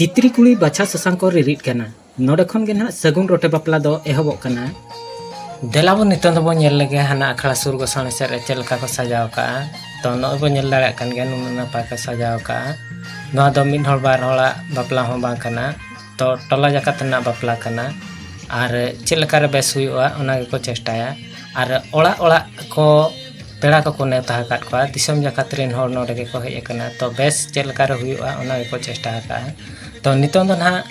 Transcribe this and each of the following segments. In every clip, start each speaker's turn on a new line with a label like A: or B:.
A: ᱛᱤᱛᱨᱤ ᱠᱩᱲᱤ ᱵᱟᱪᱷᱟ ᱥᱟᱥᱟᱝ ᱠᱚ ᱨᱤᱨᱤᱫ ᱠᱟᱱᱟ ᱱᱚᱰᱮ ᱠᱷᱚᱱ ᱜᱮ ᱱᱟᱦᱟᱜ ᱥᱟᱹᱜᱩᱱ ᱨᱚᱴᱮ ᱵᱟᱯᱞᱟ ᱫᱚ ᱮᱦᱚᱵᱚᱜ ᱠᱟᱱᱟ ᱫᱮᱞᱟ ᱵᱚᱱ ᱱᱤᱛᱚᱝ ᱫᱚᱵᱚᱱ ᱧᱮᱞ ᱞᱮᱜᱮ ᱦᱟᱱᱟ ᱟᱠᱷᱲᱟ ᱥᱩᱨ ᱜᱚᱥᱟᱬᱮ ᱥᱮᱫ ᱨᱮ ᱪᱮᱫ ᱞᱮᱠᱟ ᱠᱚ ᱥᱟᱡᱟᱣ ᱠᱟᱜᱼᱟ ᱛᱚ ᱱᱚᱜᱼᱚᱭ ᱵᱚᱱ ᱧᱮᱞ ᱫᱟᱲᱮᱭᱟᱜ ᱠᱟᱱ ᱜᱮᱭᱟ ᱱᱩᱱᱟᱹᱜ ᱱᱟᱯᱟᱭ ᱠᱚ ᱥᱟᱡᱟᱣ ᱠᱟᱜᱼᱟ ᱱᱚᱣᱟ ᱫᱚ ᱢᱤᱫ ᱦᱚᱲ ᱵᱟᱨ ᱦᱚᱲᱟᱜ ᱵᱟᱯᱞᱟ ᱦᱚᱸ ᱵᱟᱝ ᱠᱟᱱᱟ ᱛᱚ ᱴᱚᱞᱟ ᱡᱟᱠᱟᱛ ᱨᱮᱱᱟᱜ ᱵᱟᱯᱞᱟ ᱠᱟᱱᱟ ᱟᱨ ᱪᱮᱫ ᱞᱮᱠᱟᱨᱮ ᱵᱮᱥ ᱦᱩᱭᱩᱜᱼᱟ ᱚᱱᱟ ᱜᱮᱠᱚ ᱪᱮᱥᱴᱟᱭᱟ ᱟᱨ ᱚᱲᱟᱜ ᱚᱲᱟᱜ ᱠᱚ ᱯᱮᱲᱟ ᱠᱚᱠᱚ ᱱᱮᱣᱛᱟ ᱟᱠᱟᱫ ᱠᱚᱣᱟ ᱫᱤᱥᱚᱢ ᱡᱟᱠᱟᱛ ᱨᱮᱱ ᱦᱚᱲ ᱱᱚᱰᱮ ᱜᱮᱠᱚ ᱦᱮᱡ ᱟᱠᱟᱱᱟ ᱛᱚ ᱵᱮᱥ ᱪᱮᱫ ᱞᱮᱠᱟ ᱨᱮ ᱦᱩᱭᱩᱜᱼᱟ ᱚᱱᱟ ᱜᱮᱠᱚ ᱪᱮᱥᱴᱟ ᱟᱠᱟᱫᱼᱟ ᱛᱚ ᱱᱤᱛᱚᱝ ᱫᱚ ᱱᱟᱦᱟᱜ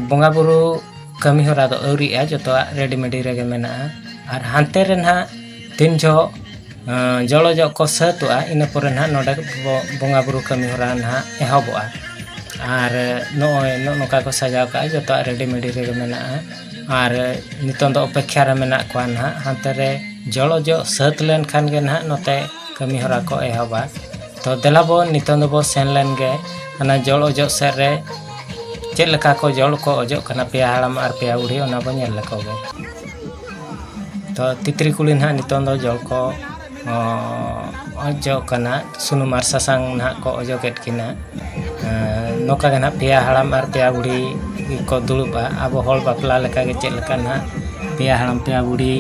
A: ᱵᱚᱸᱜᱟ ᱵᱩᱨᱩ ᱠᱟᱹᱢᱤ ᱦᱚᱨᱟ ᱫᱚ ᱟᱹᱣᱨᱤᱜᱼᱟ ᱡᱚᱛᱚᱣᱟᱜ ᱨᱮᱰᱤ ᱢᱮᱰᱤ ᱨᱮᱜᱮ ᱢᱮᱱᱟᱜᱼᱟ ᱟᱨ ᱦᱟᱱᱛᱮ ᱨᱮ ᱱᱟᱦᱟᱜ ᱛᱤᱱ ᱡᱚᱦᱚᱜ ᱡᱚᱲᱚ ᱡᱚᱜ ᱠᱚ ᱥᱟᱹᱛᱚᱜᱼᱟ ᱤᱱᱟᱹ ᱯᱚᱨᱮ ᱱᱟᱦᱟᱜ ᱱᱚᱰᱮ ᱵᱚᱸᱜᱟ ᱵᱩᱨᱩ ᱠᱟᱹᱢᱤ ᱦᱚᱨᱟ ᱱᱟᱦᱟᱜ ᱮᱦᱚᱵᱚᱜᱼᱟ ᱟᱨ ᱱᱚᱜᱼᱚᱭ ᱱᱚᱜᱼᱚ ᱱᱚᱝᱠᱟ ᱠᱚ ᱥᱟᱡᱟᱣ ᱠᱟᱜᱼᱟ ᱡᱚᱛᱚᱣᱟᱜ ᱨᱮᱰᱤ ᱢᱮᱰᱤ ᱨᱮᱜᱮ ᱢᱮᱱᱟᱜᱼᱟ ᱟᱨ ᱱᱤᱛᱚᱜ ᱫᱚ ᱚᱯᱮᱠᱠᱷᱟ ᱨᱮ ᱢᱮᱱᱟᱜ ᱠᱚᱣᱟ ᱱᱟᱦᱟᱜ ᱦᱟᱱᱛᱮ ᱨᱮ ᱡᱚᱞᱚ ᱡᱚᱜ ᱥᱟᱹᱛ ᱞᱮᱱᱠᱷᱟᱱ ᱜᱮ ᱱᱟᱦᱟᱜ ᱱᱚᱛᱮ ᱠᱟᱹᱢᱤ ᱦᱚᱨᱟ ᱠᱚ ᱮᱦᱚᱵᱟ ᱛᱚ ᱫᱮᱞᱟ ᱵᱚᱱ ᱱᱤᱛᱚᱜ ᱫᱚᱵᱚᱱ ᱥᱮᱱ ᱞᱮᱱ ᱜᱮ ᱚᱱᱟ ᱡᱚᱞ ᱚᱡᱚᱜ ᱥᱮᱫ ᱨᱮ ᱪᱮᱫ ᱞᱮᱠᱟ ᱠᱚ ᱡᱚᱞ ᱠᱚ ᱚᱡᱚᱜ ᱠᱟᱱᱟ ᱯᱮᱭᱟ ᱦᱟᱲᱟᱢ ᱟᱨ ᱯᱮᱭᱟ ᱵᱩᱲᱦᱤ ᱚᱱᱟ ᱵᱚᱱ ᱧᱮᱞ ᱞᱮᱠᱚ ᱜᱮ ᱛᱚ ᱛᱤᱛᱨᱤ ᱠᱩᱲᱤ ᱱᱟᱦᱟᱜ ᱱᱤᱛᱚᱜ ᱫᱚ ᱡᱚᱞ ᱠᱚ ᱚᱡᱚᱜ ᱠᱟᱱᱟ ᱥᱩᱱᱩᱢ ᱟᱨ ᱥᱟᱥᱟᱝ ᱱᱟᱦᱟᱜ ᱠᱚ ᱚᱡᱚᱜᱮᱫ ᱠᱤᱱᱟ ᱱᱚᱝᱠᱟ ᱜᱮ ᱱᱟᱦᱟᱜ ᱯᱮᱭᱟ ᱦᱟᱲᱟᱢ ᱟᱨ ᱯᱮᱭᱟ ᱵᱩᱲᱦᱤ ᱠᱚ ᱫᱩᱲᱩᱵᱟ ᱟᱵᱚ ᱦᱚᱲ ᱵᱟᱯᱞᱟ ᱞᱮᱠᱟᱜᱮ ᱪᱮᱫ ᱞᱮᱠᱟ ᱱᱟᱦᱟᱜ ᱯᱮᱭᱟ ᱦᱟᱲᱟᱢ ᱯᱮᱭᱟ ᱵᱩᱲᱦᱤ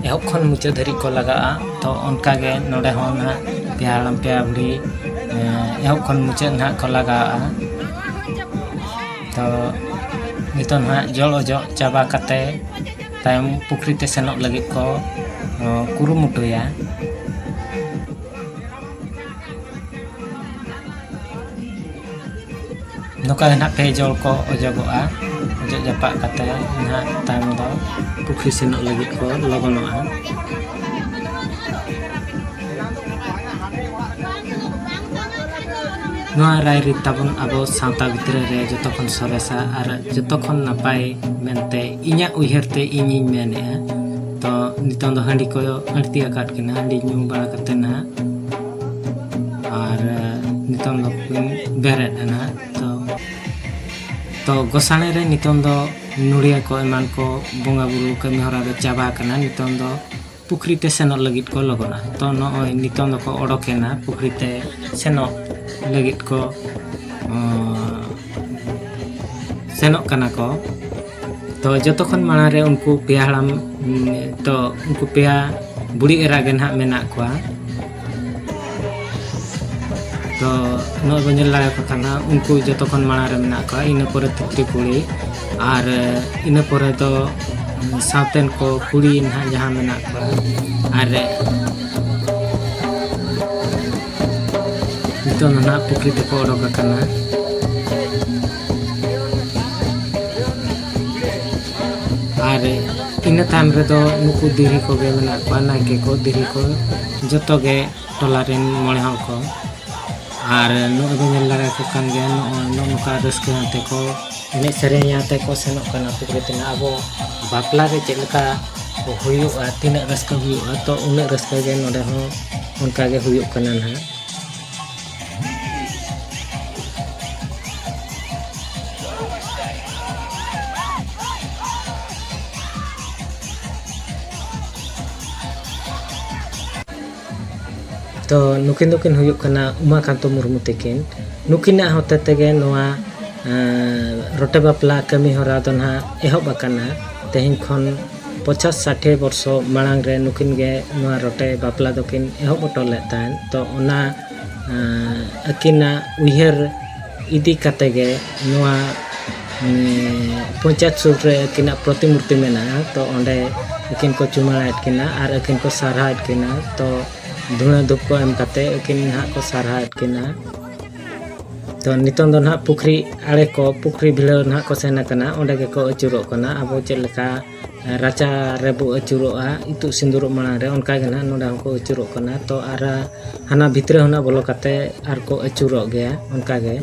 A: ᱮᱦᱚᱵ ᱠᱷᱚᱱ ᱢᱩᱪᱟᱹᱫ ᱫᱷᱟᱹᱨᱤᱡ ᱠᱚ ᱞᱟᱜᱟᱜᱼᱟ ᱛᱚ ᱚᱱᱠᱟ ᱜᱮ ᱱᱚᱰᱮ ᱦᱚᱸ ᱱᱟᱦᱟᱜ ᱯᱮᱭᱟ ᱦᱟᱲᱟᱢ ᱯᱮᱭᱟ ᱵᱩᱲᱦᱤ ᱮᱦᱚᱵ ᱠᱷᱚᱱ ᱢᱩᱪᱟᱹᱫ ᱱᱟᱦᱟᱜ ᱠᱚ ᱞᱟᱜᱟᱜᱼᱟ ᱛᱚ ᱱᱤᱛᱚᱜ ᱱᱟᱦᱟᱜ ᱡᱚᱲ ᱚᱡᱚᱜ ᱪᱟᱵᱟ ᱠᱟᱛᱮᱫ ᱛᱟᱭᱚᱢ ᱯᱩᱠᱷᱨᱤ ᱛᱮ ᱥᱮᱱᱚᱜ ᱞᱟᱹᱜᱤᱫ ᱠᱚ ᱠᱩᱨᱩᱢᱩᱴᱩᱭᱟ ᱱᱚᱝᱠᱟ ᱜᱮ ᱱᱟᱦᱟᱜ ᱯᱮ ᱡᱚᱲ ᱠᱚ ᱚᱡᱚᱜᱚᱜᱼᱟ ᱚᱡᱚᱜ ᱡᱟᱯᱟᱜ ᱠᱟᱛᱮ ᱱᱟᱦᱟᱜ ᱛᱟᱭᱚᱢ ᱫᱚ ᱯᱩᱠᱷᱨᱤ ᱥᱮᱱᱚᱜ ᱞᱟᱹᱜᱤᱫ ᱠᱚ ᱞᱚᱜᱚᱱᱚᱜᱼᱟ ᱱᱚᱣᱟ ᱨᱟᱭᱨᱤᱛ ᱛᱟᱵᱚᱱ ᱟᱵᱚ ᱥᱟᱶᱛᱟ ᱵᱷᱤᱛᱨᱤ ᱨᱮ ᱡᱚᱛᱚ ᱠᱷᱚᱱ ᱥᱚᱨᱮᱥᱟ ᱟᱨ ᱡᱚᱛᱚ ᱠᱷᱚᱱ ᱱᱟᱯᱟᱭ ᱢᱮᱱᱛᱮ ᱤᱧᱟᱹᱜ ᱩᱭᱦᱟᱹᱨ ᱛᱮ ᱤᱧᱤᱧ ᱢᱮᱱᱮᱜᱼᱟ ᱛᱚ ᱱᱤᱛᱚᱝ ᱫᱚ ᱦᱟᱺᱰᱤ ᱠᱚ ᱟᱹᱲᱛᱤ ᱟᱠᱟᱫ ᱠᱤᱱᱟ ᱦᱟᱺᱰᱤ ᱧᱩ ᱵᱟᱲᱟ ᱠᱟᱛᱮ ᱱᱟᱦᱟᱜ ᱟᱨ ᱱᱤᱛᱚᱝ ᱫᱚ ᱠᱤᱱ ᱵᱮᱨᱮᱫ ᱮᱱᱟ ᱛᱚ ᱛᱚ ᱜᱚᱥᱟᱬᱮ ᱨᱮ ᱱᱤᱛᱚᱝ ᱫᱚ ᱱᱩᱲᱭᱟᱹ ᱠᱚ ᱮᱢᱟᱱ ᱠᱚ ᱵᱚᱸᱜᱟ ᱵᱩᱨᱩ ᱠᱟᱹᱢᱤ ᱦᱚᱨᱟ ᱫᱚ ᱪᱟᱵᱟ ᱟᱠᱟᱱᱟ ᱱᱤᱛᱚᱝ ᱫᱚ ᱯᱩᱠᱷᱨᱤ ᱛᱮ ᱥᱮᱱᱚᱜ ᱞᱟᱹᱜᱤᱫ ᱠᱚ ᱞᱚᱜᱚᱱᱟ ᱛᱚ ᱱᱚᱜᱼᱚᱭ ᱱᱤᱛᱚᱝ ᱫᱚᱠᱚ ᱚᱰᱚᱠᱮᱱᱟ ᱯᱩᱠᱷᱨᱤ ᱛᱮ ᱥᱮᱱᱚᱜ ᱞᱟᱹᱜᱤᱫ ᱠᱚ ᱥᱮᱱᱚᱜ ᱠᱟᱱᱟ ᱠᱚ ᱛᱚ ᱡᱚᱛᱚ ᱠᱷᱚᱱ ᱢᱟᱲᱟᱝ ᱨᱮ ᱩᱱᱠᱩ ᱯᱮᱭᱟ ᱦᱟᱲᱟᱢ ᱛᱚ ᱩᱱᱠᱩ ᱯᱮᱭᱟ ᱵᱩᱲᱦᱤ ᱮᱨᱟ ᱜᱮ ᱱᱟᱦᱟᱜ ᱢᱮᱱᱟᱜ ᱠᱚᱣᱟ ᱛᱚ ᱱᱚᱜᱼᱚᱭ ᱵᱚᱱ ᱧᱮᱞ ᱫᱟᱲᱮᱭᱟᱠᱚ ᱠᱟᱱᱟ ᱩᱱᱠᱩ ᱡᱚᱛᱚ ᱠᱷᱚᱱ ᱢᱟᱲᱟᱝ ᱨᱮ ᱢᱮᱱᱟᱜ ᱠᱚᱣᱟ ᱤᱱᱟᱹ ᱯᱚᱨᱮ ᱛᱤᱛᱨᱤ ᱠᱩᱲᱤ ᱟᱨ ᱤᱱᱟᱹ ᱯᱚᱨᱮ ᱫᱚ ᱥᱟᱶᱛᱮᱱ ᱠᱚ ᱠᱩᱲᱤ ᱱᱟᱦᱟᱜ ᱡᱟᱦᱟᱸ ᱢᱮᱱᱟᱜ ᱠᱚᱣᱟ ᱟᱨ ᱱᱤᱛᱚᱜ ᱫᱚ ᱱᱟᱦᱟᱜ ᱯᱩᱠᱷᱨᱤ ᱛᱮᱠᱚ ᱚᱰᱚᱠ ᱟᱠᱟᱱᱟ ᱟᱨ ᱤᱱᱟᱹ ᱛᱟᱭᱚᱢ ᱨᱮᱫᱚ ᱱᱩᱠᱩ ᱫᱤᱨᱦᱤ ᱠᱚᱜᱮ ᱢᱮᱱᱟᱜ ᱠᱚᱣᱟ ᱱᱟᱭᱠᱮ ᱠᱚ ᱫᱤᱨᱦᱤ ᱠᱚ ᱡᱚᱛᱚ ᱜᱮ ᱴᱚᱞᱟ ᱨᱮᱱ ᱢᱚᱬᱮ ᱦᱚᱲ ᱠᱚ ᱟᱨ ᱱᱚᱜᱼᱚᱭ ᱵᱚᱱ ᱧᱮᱞ ᱫᱟᱲᱮ ᱟᱠᱚ ᱠᱟᱱ ᱜᱮᱭᱟ ᱱᱚᱜᱼᱚᱭ ᱱᱚᱜᱼᱚ ᱱᱚᱝᱠᱟ ᱨᱟᱹᱥᱠᱟᱹ ᱟᱛᱮ ᱠᱚ ᱮᱱᱮᱡ ᱥᱮᱨᱮᱧ ᱟᱛᱮ ᱠᱚ ᱥᱮᱱᱚᱜ ᱠᱟᱱᱟ ᱯᱩᱠᱷᱨᱤ ᱛᱮ ᱟᱵᱚ ᱵᱟᱯᱞᱟ ᱨᱮ ᱪᱮᱫ ᱞᱮᱠᱟ ᱦᱩᱭᱩᱜᱼᱟ ᱛᱤᱱᱟᱹᱜ ᱨᱟᱹᱥᱠᱟᱹ ᱦᱩᱭᱩᱜᱼᱟ ᱛᱚ ᱩᱱᱟᱹᱜ ᱨᱟᱹᱥᱠᱟᱹ ᱜᱮ ᱱᱚᱰᱮ ᱦᱚᱸ ᱚᱱᱠᱟ ᱜᱮ ᱦᱩᱭᱩᱜ ᱠᱟᱱᱟ ᱱᱟᱦᱟᱜ ᱛᱚ ᱱᱩᱠᱤᱱ ᱫᱚᱠᱤᱱ ᱦᱩᱭᱩᱜ ᱠᱟᱱᱟ ᱩᱢᱟᱠᱟᱱᱛᱚ ᱢᱩᱨᱢᱩ ᱛᱤᱠᱤᱱ ᱱᱩᱠᱤᱱᱟᱜ ᱦᱚᱛᱮ ᱛᱮᱜᱮ ᱱᱚᱣᱟ ᱨᱚᱴᱮ ᱵᱟᱯᱞᱟ ᱠᱟᱹᱢᱤ ᱦᱚᱨᱟ ᱫᱚ ᱱᱟᱦᱟᱜ ᱮᱦᱚᱵ ᱟᱠᱟᱱᱟ ᱛᱮᱦᱮᱧ ᱠᱷᱚᱱ ᱯᱚᱪᱟᱥ ᱥᱟᱴᱷᱮ ᱵᱚᱨᱥᱚ ᱢᱟᱲᱟᱝ ᱨᱮ ᱱᱩᱠᱤᱱ ᱜᱮ ᱱᱚᱣᱟ ᱨᱚᱴᱮ ᱵᱟᱯᱞᱟ ᱫᱚᱠᱤᱱ ᱮᱦᱚᱵ ᱦᱚᱴᱚ ᱞᱮᱫ ᱛᱟᱦᱮᱸᱫ ᱛᱚ ᱚᱱᱟ ᱟᱹᱠᱤᱱᱟᱜ ᱩᱭᱦᱟᱹᱨ ᱤᱫᱤ ᱠᱟᱛᱮᱫ ᱜᱮ ᱱᱚᱣᱟ ᱯᱚᱧᱪᱟᱭᱮᱛ ᱥᱩᱨ ᱨᱮ ᱟᱹᱠᱤᱱᱟᱜ ᱯᱨᱚᱛᱤᱢᱩᱨᱛᱤ ᱢᱮᱱᱟᱜᱼᱟ ᱛᱚ ᱚᱸᱰᱮ ᱟᱹᱠᱤᱱ ᱠᱚ ᱪᱩᱢᱟᱹᱲᱟᱭᱮᱫ ᱠᱤᱱᱟ ᱟᱨ ᱟᱹᱠᱤᱱ ᱠᱚ ᱥᱟᱨᱦᱟᱣᱮᱫ ᱠᱤᱱᱟ ᱛᱚ ᱫᱷᱩᱬᱟᱹ ᱫᱷᱩᱯ ᱠᱚ ᱮᱢ ᱠᱟᱛᱮᱫ ᱟᱹᱠᱤᱱ ᱱᱟᱦᱟᱜ ᱠᱚ ᱥᱟᱨᱦᱟᱣᱮᱫ ᱠᱤᱱᱟ ᱛᱚ ᱱᱤᱛᱚᱝ ᱫᱚ ᱱᱟᱦᱟᱜ ᱯᱩᱠᱷᱨᱤ ᱟᱲᱮ ᱠᱚ ᱯᱩᱠᱷᱨᱤ ᱵᱷᱤᱲᱟᱹᱣ ᱱᱟᱦᱟᱜ ᱠᱚ ᱥᱮᱱ ᱟᱠᱟᱱᱟ ᱚᱸᱰᱮ ᱜᱮᱠᱚ ᱟᱹᱪᱩᱨᱚᱜ ᱠᱟᱱᱟ ᱟᱵᱚ ᱪᱮᱫ ᱞᱮᱠᱟ ᱨᱟᱪᱟ ᱨᱮᱵᱚ ᱟᱹᱪᱩᱨᱚᱜᱼᱟ ᱤᱛᱩᱫ ᱥᱤᱸᱫᱩᱨᱚᱜ ᱢᱟᱲᱟᱝ ᱨᱮ ᱚᱱᱠᱟ ᱜᱮ ᱱᱟᱦᱟᱜ ᱱᱚᱸᱰᱮ ᱦᱚᱸᱠᱚ ᱟᱹᱪᱩᱨᱚᱜ ᱠᱟᱱᱟ ᱛᱚ ᱟᱨ ᱦᱟᱱᱟ ᱵᱷᱤᱛᱨᱤ ᱦᱚᱸ ᱱᱟᱦᱟᱜ ᱵᱚᱞᱚ ᱠᱟᱛᱮ ᱟᱨ ᱠᱚ ᱟᱹᱪᱩᱨᱚᱜ ᱜᱮᱭᱟ ᱚᱱᱠᱟ ᱜᱮ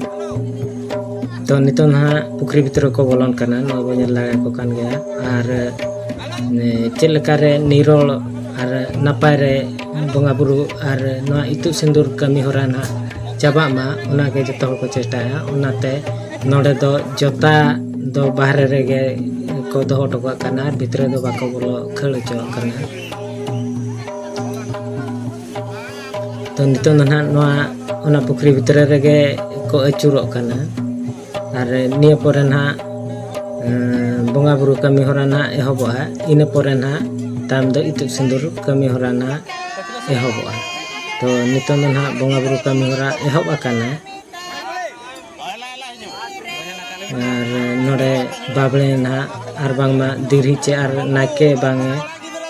A: ᱛᱚ ᱱᱤᱛᱚᱝ ᱱᱟᱦᱟᱜ ᱯᱩᱠᱷᱨᱤ ᱵᱷᱤᱛᱨᱤ ᱠᱚ ᱵᱚᱞᱚᱱ ᱠᱟᱱᱟ ᱱᱚᱜᱼᱚᱭ ᱵᱚᱱ ᱧᱮᱞ ᱫᱟᱲᱮᱭᱟᱠᱚ ᱠᱟᱱ ᱜᱮᱭᱟ ᱟᱨ ᱪᱮᱫ ᱞᱮᱠᱟᱨᱮ ᱱᱤᱨᱚᱲ ᱟᱨ ᱱᱟᱯᱟᱭ ᱨᱮ ᱵᱚᱸᱜᱟ ᱵᱩᱨᱩ ᱟᱨ ᱱᱚᱣᱟ ᱤᱛᱩᱫ ᱥᱤᱸᱫᱩᱨ ᱠᱟᱹᱢᱤ ᱦᱚᱨᱟ ᱱᱟᱜ ᱪᱟᱵᱟᱜ ᱢᱟ ᱚᱱᱟᱜᱮ ᱡᱚᱛᱚ ᱦᱚᱲ ᱠᱚ ᱪᱮᱥᱴᱟᱭᱟ ᱚᱱᱟᱛᱮ ᱱᱚᱰᱮ ᱫᱚ ᱡᱚᱛᱟ ᱫᱚ ᱵᱟᱦᱨᱮ ᱨᱮᱜᱮ ᱠᱚ ᱫᱚᱦᱚ ᱦᱚᱴᱚ ᱠᱟᱜ ᱠᱟᱱᱟ ᱟᱨ ᱵᱷᱤᱛᱨᱤ ᱫᱚ ᱵᱟᱠᱚ ᱵᱚᱞᱚ ᱠᱷᱟᱹᱲ ᱦᱚᱪᱚᱣᱟᱜ ᱠᱟᱱᱟ ᱛᱚ ᱱᱤᱛᱚᱝ ᱫᱚ ᱱᱟᱜ ᱱᱚᱣᱟ ᱚᱱᱟ ᱯᱩᱠᱷᱨᱤ ᱵᱷᱤᱛᱨᱤ ᱨᱮᱜᱮ ᱠᱚ ᱟᱹᱪᱩᱨᱚᱜ ᱠᱟᱱᱟ ᱟᱨ ᱱᱤᱭᱟᱹ ᱯᱚᱨᱮ ᱱᱟᱦᱟᱜ ᱵᱚᱸᱜᱟ ᱵᱩᱨᱩ ᱠᱟᱹᱢᱤ ᱦᱚᱨᱟ ᱱᱟᱦᱟᱜ ᱮᱦᱚᱵᱚᱜᱼᱟ ᱤᱱᱟᱹ ᱯᱚᱨᱮ ᱱᱟᱦᱟᱜ ᱛᱟᱭᱚᱢ ᱫᱚ ᱤᱛᱩᱫ ᱥᱤᱸᱫᱩᱨ ᱠᱟᱹᱢᱤ ᱦᱚᱨᱟ ᱱᱟᱦᱟᱜ ᱮᱦᱚᱵᱚᱜᱼᱟ ᱛᱚ ᱱᱤᱛᱚᱝ ᱫᱚ ᱱᱟᱦᱟᱜ ᱵᱚᱸᱜᱟ ᱵᱩᱨᱩ ᱠᱟᱹᱢᱤ ᱦᱚᱨᱟ ᱮᱦᱚᱵ ᱟᱠᱟᱱᱟ ᱟᱨ ᱱᱚᱰᱮ ᱵᱟᱵᱽᱲᱮ ᱱᱟᱦᱟᱜ ᱟᱨ ᱵᱟᱝᱢᱟ ᱫᱤᱨᱦᱤ ᱪᱮ ᱟᱨ ᱱᱟᱭᱠᱮ ᱵᱟᱝᱮ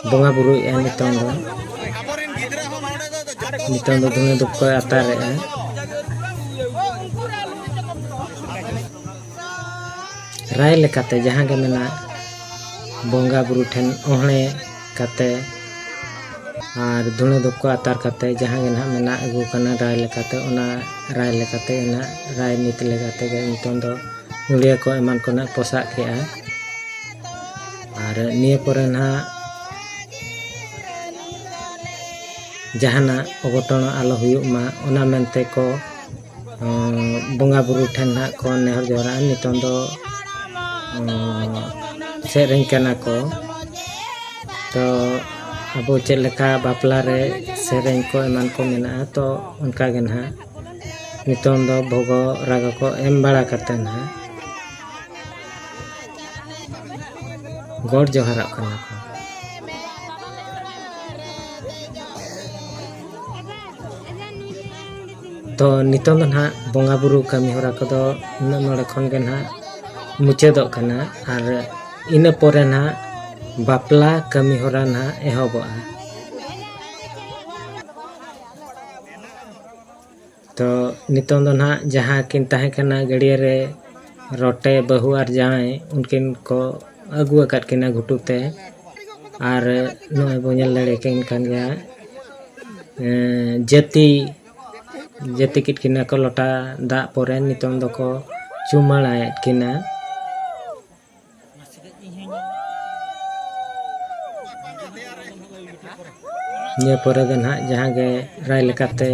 A: ᱵᱚᱸᱜᱟ ᱵᱩᱨᱩᱭᱮᱫᱼᱟ ᱱᱤᱛᱚᱝ ᱫᱚ ᱱᱤᱛᱚᱝ ᱫᱚ ᱫᱷᱩᱬᱟᱹ ᱫᱷᱩᱯ ᱠᱚᱭ ᱟᱛᱟᱨᱮᱜᱼᱟ ᱨᱟᱭ ᱞᱮᱠᱟᱛᱮ ᱡᱟᱦᱟᱸ ᱜᱮ ᱢᱮᱱᱟᱜ ᱵᱚᱸᱜᱟ ᱵᱩᱨᱩ ᱴᱷᱮᱱ ᱚᱦᱬᱮ ᱠᱟᱛᱮ ᱟᱨ ᱫᱷᱩᱬᱟᱹ ᱫᱷᱩᱯ ᱠᱚ ᱟᱛᱟᱨ ᱠᱟᱛᱮ ᱡᱟᱦᱟᱸ ᱜᱮ ᱱᱟᱦᱟᱜ ᱢᱮᱱᱟᱜ ᱟᱹᱜᱩ ᱠᱟᱱᱟ ᱨᱟᱭ ᱞᱮᱠᱟᱛᱮ ᱚᱱᱟ ᱨᱟᱭ ᱞᱮᱠᱟᱛᱮ ᱚᱱᱟ ᱨᱟᱭ ᱱᱤᱛ ᱞᱮᱠᱟᱛᱮ ᱜᱮ ᱱᱤᱛᱚᱝ ᱫᱚ ᱱᱩᱲᱤᱭᱟᱹ ᱠᱚ ᱮᱢᱟᱱ ᱠᱚ ᱱᱟᱦᱟᱜ ᱯᱚᱥᱟᱜ ᱠᱮᱜᱼᱟ ᱟᱨ ᱱᱤᱭᱟᱹ ᱯᱚᱨᱮ ᱱᱟᱦᱟᱜ ᱡᱟᱦᱟᱱᱟᱜ ᱚᱜᱷᱚᱴᱚᱱ ᱟᱞᱚ ᱦᱩᱭᱩᱜ ᱢᱟ ᱚᱱᱟ ᱢᱮᱱᱛᱮ ᱠᱚ ᱵᱚᱸᱜᱟ ᱵᱩᱨᱩ ᱴᱷᱮᱱ ᱱᱟᱦᱟᱜ ᱠᱚ ᱱᱮᱦᱚᱨ ᱡᱚᱦᱟᱨᱟᱜᱼᱟ ᱱᱤᱛᱚᱝ ᱫᱚ ᱥᱮᱨᱮᱧ ᱠᱟᱱᱟ ᱠᱚ ᱛᱚ ᱟᱵᱚ ᱪᱮᱫ ᱞᱮᱠᱟ ᱵᱟᱯᱞᱟ ᱨᱮ ᱥᱮᱨᱮᱧ ᱠᱚ ᱮᱢᱟᱱ ᱠᱚ ᱢᱮᱱᱟᱜᱼᱟ ᱛᱚ ᱚᱱᱠᱟ ᱜᱮ ᱱᱟᱦᱟᱜ ᱱᱤᱛᱚᱝ ᱫᱚ ᱵᱷᱚᱜᱚ ᱨᱟᱜᱟ ᱠᱚ ᱮᱢ ᱵᱟᱲᱟ ᱠᱟᱛᱮ ᱱᱟᱦᱟᱜ ᱜᱚᱰ ᱡᱚᱦᱟᱨᱚᱜ ᱠᱟᱱᱟ ᱠᱚ ᱛᱚ ᱱᱤᱛᱚᱝ ᱫᱚ ᱱᱟᱦᱟᱜ ᱵᱚᱸᱜᱟ ᱵᱩᱨᱩ ᱠᱟᱹᱢᱤ ᱦᱚᱨᱟ ᱠᱚᱫᱚ ᱱᱤᱱᱟᱹᱜ ᱱᱚᱰᱮ ᱠᱷᱚᱱ ᱜᱮ ᱱᱟᱦᱟᱜ ᱢᱩᱪᱟᱹᱫᱚᱜ ᱠᱟᱱᱟ ᱟᱨ ᱤᱱᱟᱹ ᱯᱚᱨᱮ ᱱᱟᱦᱟᱜ ᱵᱟᱯᱞᱟ ᱠᱟᱹᱢᱤ ᱦᱚᱨᱟ ᱱᱟᱦᱟᱜ ᱮᱦᱚᱵᱚᱜᱼᱟ ᱛᱚ ᱱᱤᱛᱚᱝ ᱫᱚ ᱱᱟᱦᱟᱜ ᱡᱟᱦᱟᱸ ᱠᱤᱱ ᱛᱟᱦᱮᱸ ᱠᱟᱱᱟ ᱜᱟᱹᱰᱭᱟᱹ ᱨᱮ ᱨᱚᱴᱮ ᱵᱟᱹᱦᱩ ᱟᱨ ᱡᱟᱶᱟᱭ ᱩᱱᱠᱤᱱ ᱠᱚ ᱟᱹᱜᱩ ᱟᱠᱟᱫ ᱠᱤᱱᱟ ᱜᱷᱩᱴᱩ ᱛᱮ ᱟᱨ ᱱᱚᱜᱼᱚᱭ ᱵᱚᱱ ᱧᱮᱞ ᱫᱟᱲᱮ ᱠᱤᱱ ᱠᱟᱱ ᱜᱮᱭᱟ ᱡᱟᱹᱛᱤ ᱡᱟᱹᱛᱤ ᱠᱮᱫ ᱠᱤᱱᱟ ᱠᱚ ᱞᱚᱴᱟ ᱫᱟᱜ ᱯᱚᱨᱮ ᱱᱤᱛᱚᱝ ᱫᱚᱠᱚ ᱪᱩᱢᱟᱹᱲᱟᱭᱮᱫ ᱠᱤᱱᱟ ᱱᱤᱭᱟᱹ ᱯᱚᱨᱮ ᱫᱚ ᱱᱟᱦᱟᱜ ᱡᱟᱦᱟᱸ ᱜᱮ ᱨᱟᱭ ᱞᱮᱠᱟᱛᱮ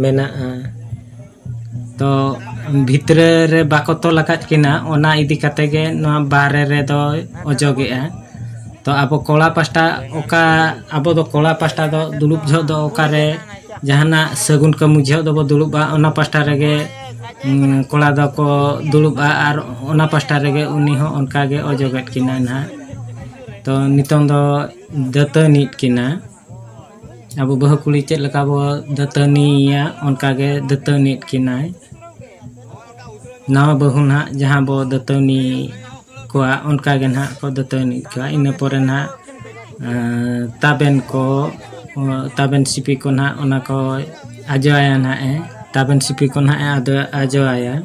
A: ᱢᱮᱱᱟᱜᱼᱟ ᱛᱚ ᱵᱷᱤᱛᱨᱤ ᱨᱮ ᱵᱟᱠᱚ ᱛᱚᱞ ᱟᱠᱟᱫ ᱠᱤᱱᱟ ᱚᱱᱟ ᱤᱫᱤ ᱠᱟᱛᱮ ᱜᱮ ᱱᱚᱣᱟ ᱵᱟᱦᱨᱮ ᱨᱮᱫᱚ ᱚᱡᱚᱜᱮᱜᱼᱟ ᱛᱚ ᱟᱵᱚ ᱠᱚᱲᱟ ᱯᱟᱥᱴᱟ ᱚᱠᱟ ᱟᱵᱚ ᱫᱚ ᱠᱚᱲᱟ ᱯᱟᱥᱴᱟ ᱫᱚ ᱫᱩᱲᱩᱵ ᱡᱚᱦᱚᱜ ᱫᱚ ᱚᱠᱟᱨᱮ ᱡᱟᱦᱟᱱᱟᱜ ᱥᱟᱹᱜᱩᱱ ᱠᱟᱹᱢᱤ ᱡᱚᱦᱚᱜ ᱫᱚᱵᱚ ᱫᱩᱲᱩᱵᱼᱟ ᱚᱱᱟ ᱯᱟᱥᱴᱟ ᱨᱮᱜᱮ ᱠᱚᱲᱟ ᱫᱚᱠᱚ ᱫᱩᱲᱩᱵᱼᱟ ᱟᱨ ᱚᱱᱟ ᱯᱟᱥᱴᱟ ᱨᱮᱜᱮ ᱩᱱᱤ ᱦᱚᱸ ᱚᱱᱠᱟ ᱜᱮ ᱚᱡᱚᱜᱮᱫ ᱠᱤᱱᱟᱹᱭ ᱱᱟᱦᱟᱜ ᱛᱚ ᱱᱤᱛᱚᱝ ᱫᱚ ᱫᱟᱹᱛᱟᱹᱱᱤᱭᱮᱫ ᱠᱤᱱᱟᱹ ᱟᱵᱚ ᱵᱟᱹᱦᱩ ᱠᱩᱲᱤ ᱪᱮᱫ ᱞᱮᱠᱟ ᱵᱚ ᱫᱟᱹᱛᱟᱹᱱᱤᱭᱮᱭᱟ ᱚᱱᱠᱟ ᱜᱮ ᱫᱟᱹᱛᱟᱹᱱᱤᱭᱮᱫ ᱠᱤᱱᱟᱹᱭ ᱱᱟᱣᱟ ᱵᱟᱹᱦᱩ ᱱᱟᱦᱟᱜ ᱡᱟᱦᱟᱸ ᱵᱚ ᱫᱟᱹᱛᱟᱹᱱᱤ ᱠᱚᱣᱟ ᱚᱱᱠᱟ ᱜᱮ ᱱᱟᱦᱟᱜ ᱠᱚ ᱫᱟᱹᱛᱟᱹᱱᱤᱜ ᱠᱚᱣᱟ ᱤᱱᱟᱹ ᱯᱚᱨᱮ ᱱᱟᱦᱟᱜ ᱛᱟᱵᱮᱱ ᱠᱚ ᱛᱟᱵᱮᱱ ᱥᱤᱯᱤ ᱠᱚ ᱱᱟᱦᱟᱜ ᱚᱱᱟ ᱠᱚ ᱟᱡᱚᱣᱟᱭᱟ ᱱᱟᱦᱟᱜ ᱮ ᱛᱟᱵᱮᱱ ᱥᱤᱯᱤ ᱠᱚ ᱱᱟᱦᱟᱜ ᱮ ᱟᱡᱚᱣᱟᱭᱟ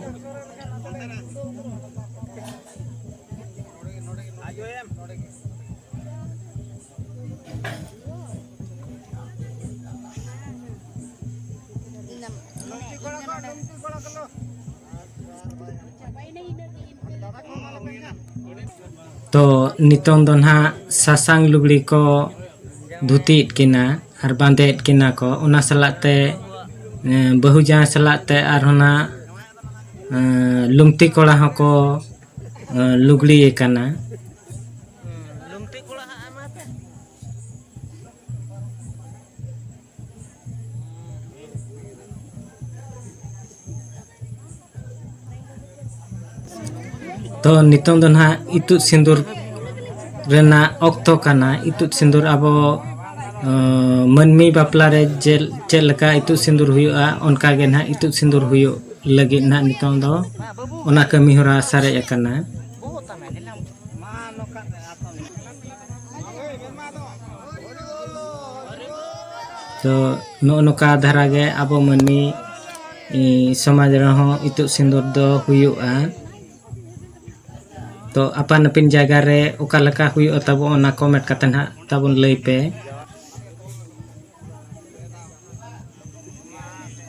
A: ᱛᱚ ᱱᱤᱛᱚᱝ ᱫᱚ ᱱᱟᱦᱟᱜ ᱥᱟᱥᱟᱝ ᱞᱩᱜᱽᱲᱤ ᱠᱚ ᱫᱷᱩᱛᱤᱭᱮᱫ ᱠᱤᱱᱟ ᱟᱨ ᱵᱟᱸᱫᱮᱭᱮᱫ ᱠᱤᱱᱟ ᱠᱚ ᱚᱱᱟ ᱥᱟᱞᱟᱜ ᱛᱮ ᱵᱟᱹᱦᱩ ᱡᱟᱶᱟᱭ ᱥᱟᱞᱟᱜ ᱛᱮ ᱟᱨᱦᱚᱸ ᱱᱟᱦᱟᱜ ᱞᱩᱢᱛᱤ ᱠᱚᱲᱟ ᱦᱚᱸᱠᱚ ᱞᱩᱜᱽᱲᱤ ᱟᱠᱟᱱᱟ ᱛᱚ ᱱᱤᱛᱚᱝ ᱫᱚ ᱱᱟᱦᱟᱜ ᱤᱛᱩᱫ ᱥᱤᱸᱫᱩᱨ ᱨᱮᱱᱟᱜ ᱚᱠᱛᱚ ᱠᱟᱱᱟ ᱤᱛᱩᱫ ᱥᱤᱸᱫᱩᱨ ᱟᱵᱚ ᱢᱟᱹᱱᱢᱤ ᱵᱟᱯᱞᱟ ᱨᱮ ᱪᱮᱫ ᱞᱮᱠᱟ ᱤᱛᱩᱫ ᱥᱤᱸᱫᱩᱨ ᱦᱩᱭᱩᱜᱼᱟ ᱚᱱᱠᱟ ᱜᱮ ᱱᱟᱦᱟᱜ ᱤᱛᱩᱫ ᱥᱤᱸᱫᱩᱨ ᱦᱩᱭᱩᱜ ᱞᱟᱹᱜᱤᱫ ᱱᱟᱦᱟᱜ ᱱᱤᱛᱚᱝ ᱫᱚ ᱚᱱᱟ ᱠᱟᱹᱢᱤ ᱦᱚᱨᱟ ᱥᱟᱨᱮᱡ ᱟᱠᱟᱱᱟ ᱛᱚ ᱱᱚᱜᱼᱚ ᱱᱚᱝᱠᱟ ᱫᱷᱟᱨᱟ ᱜᱮ ᱟᱵᱚ ᱢᱟᱹᱱᱢᱤ ᱥᱚᱢᱟᱡᱽ ᱨᱮᱦᱚᱸ ᱤᱛᱩᱫ ᱥᱤᱸᱫᱩᱨ ᱫᱚ ᱦᱩᱭᱩᱜᱼᱟ ᱛᱚ ᱟᱯᱟᱱ ᱟᱹᱯᱤᱱ ᱡᱟᱭᱜᱟ ᱨᱮ ᱚᱠᱟ ᱞᱮᱠᱟ ᱦᱩᱭᱩᱜᱼᱟ ᱛᱟᱵᱚ ᱚᱱᱟ ᱠᱚᱢᱮᱱᱴ ᱠᱟᱛᱮ ᱱᱟᱜ ᱛᱟᱵᱚᱱ ᱞᱟᱹᱭ ᱯᱮ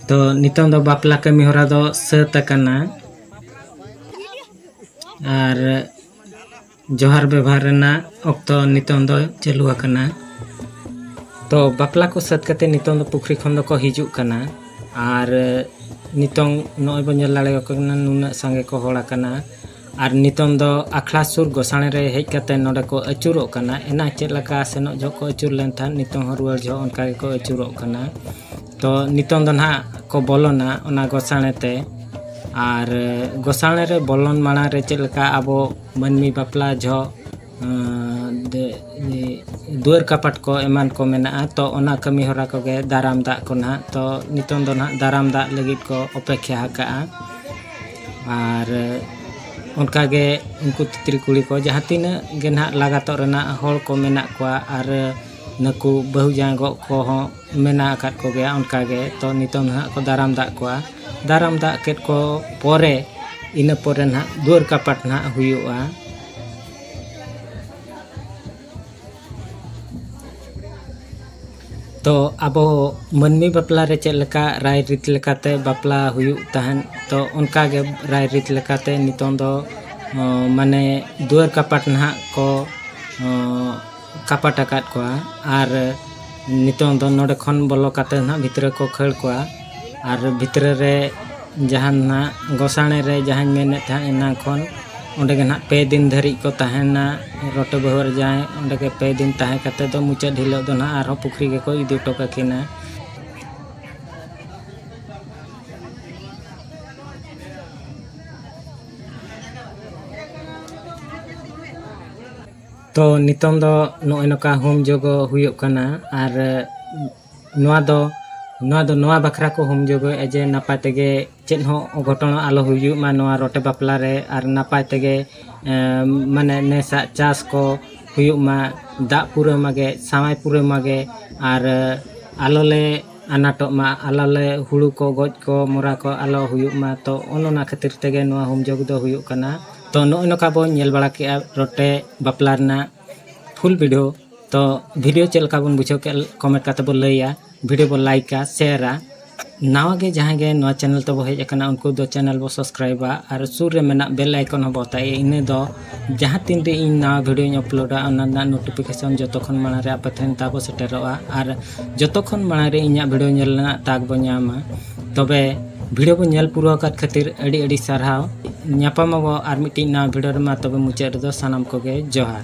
A: ᱛᱚ ᱱᱤᱛᱚᱝ ᱫᱚ ᱵᱟᱯᱞᱟ ᱠᱟᱹᱢᱤ ᱦᱚᱨᱟ ᱫᱚ ᱥᱟᱹᱛ ᱟᱠᱟᱱᱟ ᱟᱨ ᱡᱚᱦᱟᱨ ᱵᱮᱵᱷᱟᱨ ᱨᱮᱱᱟᱜ ᱚᱠᱛᱚ ᱱᱤᱛᱚᱝ ᱫᱚ ᱪᱟᱹᱞᱩ ᱟᱠᱟᱱᱟ ᱛᱚ ᱵᱟᱯᱞᱟ ᱠᱚ ᱥᱟᱹᱛ ᱠᱟᱛᱮ ᱱᱤᱛᱚᱝ ᱫᱚ ᱯᱩᱠᱷᱨᱤ ᱠᱷᱚᱱ ᱫᱚᱠᱚ ᱦᱤᱡᱩᱜ ᱠᱟᱱᱟ ᱟᱨ ᱱᱤᱛᱚᱝ ᱱᱚᱜᱼᱚᱭ ᱵᱚᱱ ᱧᱮᱞ ᱫᱟᱲᱮᱭᱟᱠᱚ ᱠᱟᱱᱟ ᱱᱩᱱᱟᱹᱜ ᱥᱟᱸᱜᱮ ᱠᱚ ᱦᱚᱲ ᱟᱠᱟᱱᱟ ᱟᱨ ᱱᱤᱛᱚᱝ ᱫᱚ ᱟᱠᱷᱲᱟ ᱥᱩᱨ ᱜᱚᱥᱟᱬᱮ ᱨᱮ ᱦᱮᱡ ᱠᱟᱛᱮ ᱱᱚᱰᱮ ᱠᱚ ᱟᱹᱪᱩᱨᱚᱜ ᱠᱟᱱᱟ ᱮᱱᱟᱝ ᱪᱮᱫ ᱞᱮᱠᱟ ᱥᱮᱱᱚᱜ ᱡᱚᱦᱚᱜ ᱠᱚ ᱟᱹᱪᱩᱨ ᱞᱮᱱ ᱛᱟᱦᱮᱸᱫ ᱱᱤᱛᱚᱝ ᱦᱚᱸ ᱨᱩᱣᱟᱹᱲ ᱡᱚᱦᱚᱜ ᱚᱱᱠᱟ ᱜᱮᱠᱚ ᱟᱹᱪᱩᱨᱚᱜ ᱠᱟᱱᱟ ᱛᱚ ᱱᱤᱛᱚᱝ ᱫᱚ ᱱᱟᱦᱟᱜ ᱠᱚ ᱵᱚᱞᱚᱱᱟ ᱚᱱᱟ ᱜᱚᱥᱟᱬᱮ ᱛᱮ ᱟᱨ ᱜᱚᱥᱟᱬᱮ ᱨᱮ ᱵᱚᱞᱚᱱ ᱢᱟᱲᱟᱝ ᱨᱮ ᱪᱮᱫ ᱞᱮᱠᱟ ᱟᱵᱚ ᱢᱟᱹᱱᱢᱤ ᱵᱟᱯᱞᱟ ᱡᱚᱦᱚᱜ ᱫᱩᱣᱟᱹᱨ ᱠᱟᱯᱟᱴ ᱠᱚ ᱮᱢᱟᱱ ᱠᱚ ᱢᱮᱱᱟᱜᱼᱟ ᱛᱚ ᱚᱱᱟ ᱠᱟᱹᱢᱤ ᱦᱚᱨᱟ ᱠᱚᱜᱮ ᱫᱟᱨᱟᱢ ᱫᱟᱜ ᱠᱚ ᱱᱟᱦᱟᱜ ᱛᱚ ᱱᱤᱛᱚᱝ ᱫᱚ ᱱᱟᱦᱟᱜ ᱫᱟᱨᱟᱢ ᱫᱟᱜ ᱞᱟᱹᱜᱤᱫ ᱠᱚ ᱚᱯᱮᱠᱠᱷᱟ ᱟᱠᱟᱜᱼᱟ ᱟᱨ ᱚᱱᱠᱟ ᱜᱮ ᱩᱱᱠᱩ ᱛᱤᱛᱨᱤ ᱠᱩᱲᱤ ᱠᱚ ᱡᱟᱦᱟᱸ ᱛᱤᱱᱟᱹᱜ ᱜᱮ ᱱᱟᱦᱟᱜ ᱞᱟᱜᱟᱛᱚᱜ ᱨᱮᱱᱟᱜ ᱦᱚᱲ ᱠᱚ ᱢᱮᱱᱟᱜ ᱠᱚᱣᱟ ᱟᱨ ᱱᱩᱠᱩ ᱵᱟᱹᱦᱩ ᱡᱟᱶᱟᱭ ᱜᱚᱜ ᱠᱚᱦᱚᱸ ᱢᱮᱱᱟᱜ ᱟᱠᱟᱫ ᱠᱚᱜᱮᱭᱟ ᱚᱱᱠᱟ ᱜᱮ ᱛᱚ ᱱᱤᱛᱚᱝ ᱱᱟᱦᱟᱜ ᱠᱚ ᱫᱟᱨᱟᱢ ᱫᱟᱜ ᱠᱚᱣᱟ ᱫᱟᱨᱟᱢ ᱫᱟᱜ ᱠᱮᱫ ᱠᱚ ᱯᱚᱨᱮ ᱤᱱᱟᱹ ᱯᱚᱨᱮ ᱱᱟᱦᱟᱜ ᱫᱩᱣᱟᱹᱨ ᱠᱟᱯᱟᱴ ᱱᱟᱦᱟᱜ ᱦᱩᱭᱩᱜᱼᱟ ᱛᱚ ᱟᱵᱚ ᱢᱟᱹᱱᱢᱤ ᱵᱟᱯᱞᱟ ᱨᱮ ᱪᱮᱫ ᱞᱮᱠᱟ ᱨᱟᱭ ᱨᱤᱛ ᱞᱮᱠᱟᱛᱮ ᱵᱟᱯᱞᱟ ᱦᱩᱭᱩᱜ ᱛᱟᱦᱮᱱ ᱛᱚ ᱚᱱᱠᱟ ᱜᱮ ᱨᱟᱭ ᱨᱤᱛ ᱞᱮᱠᱟᱛᱮ ᱱᱤᱛᱚᱝ ᱫᱚ ᱢᱟᱱᱮ ᱫᱩᱣᱟᱹᱨ ᱠᱟᱯᱟᱴ ᱱᱟᱦᱟᱜ ᱠᱚ ᱠᱟᱯᱟᱴ ᱟᱠᱟᱫ ᱠᱚᱣᱟ ᱟᱨ ᱱᱤᱛᱚᱝ ᱫᱚ ᱱᱚᱰᱮ ᱠᱷᱚᱱ ᱵᱚᱞᱚ ᱠᱟᱛᱮᱫ ᱱᱟᱦᱟᱜ ᱵᱷᱤᱛᱨᱤ ᱠᱚ ᱠᱷᱟᱹᱲ ᱠᱚᱣᱟ ᱟᱨ ᱵᱷᱤᱛᱨᱤ ᱨᱮ ᱡᱟᱦᱟᱱ ᱱᱟᱦᱟᱜ ᱜᱚᱥᱟᱬᱮ ᱨᱮ ᱡᱟᱦᱟᱧ ᱢᱮᱱᱮᱫ ᱛᱟᱦᱮᱸᱫ ᱮᱱᱟᱝ ᱠᱷᱚᱱ ᱚᱸᱰᱮ ᱜᱮ ᱱᱟᱦᱟᱜ ᱯᱮ ᱫᱤᱱ ᱫᱷᱟᱹᱨᱤᱡ ᱠᱚ ᱛᱟᱦᱮᱱᱟ ᱨᱚᱴᱮ ᱵᱟᱹᱦᱩ ᱟᱨ ᱡᱟᱶᱟᱭ ᱚᱸᱰᱮ ᱜᱮ ᱯᱮ ᱫᱤᱱ ᱛᱟᱦᱮᱸ ᱠᱟᱛᱮᱫ ᱫᱚ ᱢᱩᱪᱟᱹᱫ ᱦᱤᱞᱳᱜ ᱫᱚ ᱱᱟᱦᱟᱜ ᱟᱨᱦᱚᱸ ᱯᱩᱠᱷᱨᱤ ᱜᱮᱠᱚ ᱤᱫᱤ ᱦᱚᱴᱚ ᱠᱟᱹᱠᱤᱱᱟ ᱛᱚ ᱱᱤᱛᱚᱝ ᱫᱚ ᱱᱚᱜᱼᱚᱭ ᱱᱚᱝᱠᱟ ᱦᱳᱢ ᱡᱳᱜᱚ ᱦᱩᱭᱩᱜ ᱠᱟᱱᱟ ᱟᱨ ᱱᱚᱣᱟ ᱫᱚ ᱱᱚᱣᱟ ᱫᱚ ᱱᱚᱣᱟ ᱵᱟᱠᱷᱨᱟ ᱠᱚ ᱦᱳᱢ ᱡᱳᱜᱚᱭᱮᱜᱼᱟ ᱡᱮ ᱱᱟᱯᱟᱭ ᱛᱮᱜᱮ ᱪᱮᱫ ᱦᱚᱸ ᱚᱜᱷᱚᱴᱚᱱ ᱟᱞᱚ ᱦᱩᱭᱩᱜ ᱢᱟ ᱱᱚᱣᱟ ᱨᱚᱴᱮ ᱵᱟᱯᱞᱟ ᱨᱮ ᱟᱨ ᱱᱟᱯᱟᱭ ᱛᱮᱜᱮ ᱢᱟᱱᱮ ᱱᱮᱥᱟᱜ ᱪᱟᱥ ᱠᱚ ᱦᱩᱭᱩᱜ ᱢᱟ ᱫᱟᱜ ᱯᱩᱨᱟᱹᱣ ᱢᱟᱜᱮ ᱥᱟᱶᱟᱭ ᱯᱩᱨᱟᱹᱣ ᱢᱟᱜᱮ ᱟᱨ ᱟᱞᱚ ᱞᱮ ᱟᱱᱟᱴᱚᱜ ᱢᱟ ᱟᱞᱚ ᱞᱮ ᱦᱳᱲᱳ ᱠᱚ ᱜᱚᱡ ᱠᱚ ᱢᱚᱨᱟ ᱠᱚ ᱟᱞᱚ ᱦᱩᱭᱩᱜ ᱢᱟ ᱛᱚ ᱚᱱ ᱚᱱᱟ ᱠᱷᱟᱹᱛᱤᱨ ᱛᱮᱜᱮ ᱱᱚᱣᱟ ᱦᱳᱢ ᱡᱳᱜᱽ ᱫᱚ ᱦᱩᱭᱩᱜ ᱠᱟᱱᱟ ᱛᱚ ᱱᱚᱜᱼᱚᱭ ᱱᱚᱝᱠᱟ ᱵᱚᱱ ᱧᱮᱞ ᱵᱟᱲᱟ ᱠᱮᱜᱼᱟ ᱨᱚᱴᱮ ᱵᱟᱯᱞᱟ ᱨᱮᱱᱟᱜ ᱯᱷᱩᱞ ᱵᱷᱤᱰᱤᱭᱳ ᱛᱚ ᱵᱷᱤᱰᱤᱭᱳ ᱪᱮᱫ ᱞᱮᱠᱟ ᱵᱚᱱ ᱵᱩᱡᱷᱟᱹᱣ ᱠᱮᱜᱼᱟ ᱠᱚᱢᱮᱱᱴ ᱠᱟᱛᱮ ᱵᱚᱱ ᱞᱟᱹᱭᱟ ᱵᱷᱤᱰᱤᱭᱳ ᱵᱚᱱ ᱞᱟᱭᱤᱠᱟ ᱥᱮᱭᱟᱨᱟ ᱱᱟᱣᱟ ᱜᱮ ᱡᱟᱦᱟᱸᱭ ᱜᱮ ᱱᱚᱣᱟ ᱪᱮᱱᱮᱞ ᱛᱮᱵᱚ ᱦᱮᱡ ᱟᱠᱟᱱᱟ ᱩᱱᱠᱩ ᱫᱚ ᱪᱮᱱᱮᱞ ᱵᱚ ᱥᱟᱵᱥᱠᱨᱟᱭᱤᱵᱟ ᱟᱨ ᱥᱩᱨ ᱨᱮ ᱢᱮᱱᱟᱜ ᱵᱮᱞ ᱟᱭᱠᱚᱱ ᱦᱚᱸᱵᱚ ᱚᱛᱟᱭᱟ ᱤᱱᱟᱹ ᱫᱚ ᱡᱟᱦᱟᱸ ᱛᱤᱱ ᱨᱮ ᱤᱧ ᱱᱟᱣᱟ ᱵᱷᱤᱰᱤᱭᱳᱧ ᱟᱯᱞᱳᱰᱟ ᱚᱱᱟ ᱨᱮᱱᱟᱜ ᱱᱳᱴᱤᱯᱷᱤᱠᱮᱥᱚᱱ ᱡᱚᱛᱚ ᱠᱷᱚᱱ ᱢᱟᱲᱟᱝ ᱨᱮ ᱟᱯᱮ ᱴᱷᱮᱱ ᱛᱟᱵᱚ ᱥᱮᱴᱮᱨᱚᱜᱼᱟ ᱟᱨ ᱡᱚᱛᱚ ᱠᱷᱚᱱ ᱢᱟᱲᱟᱝ ᱨᱮ ᱤᱧᱟᱹᱜ ᱵᱷᱤᱰᱤᱭᱳ ᱧᱮᱞ ᱨᱮᱱᱟᱜ ᱛᱟᱠ ᱵᱚ ᱧᱟᱢᱟ ᱛᱚᱵᱮ ᱵᱷᱤᱰᱤᱭᱳ ᱠᱚ ᱧᱮᱞ ᱯᱩᱨᱟᱹᱣ ᱟᱠᱟᱫ ᱠᱷᱟᱹᱛᱤᱨ ᱟᱹᱰᱤ ᱟᱹᱰᱤ ᱥᱟᱨᱦᱟᱣ ᱧᱟᱯᱟᱢ ᱟᱵᱚ ᱟᱨ ᱢᱤᱫᱴᱤᱡ ᱱᱟᱣᱟ ᱵᱷᱤᱰᱤᱭᱳ ᱨᱮᱢᱟ ᱛᱚᱵᱮ ᱢᱩᱪᱟᱹᱫ ᱨᱮᱫᱚ ᱥᱟᱱᱟᱢ ᱠᱚᱜᱮ ᱡᱚᱦᱟᱨ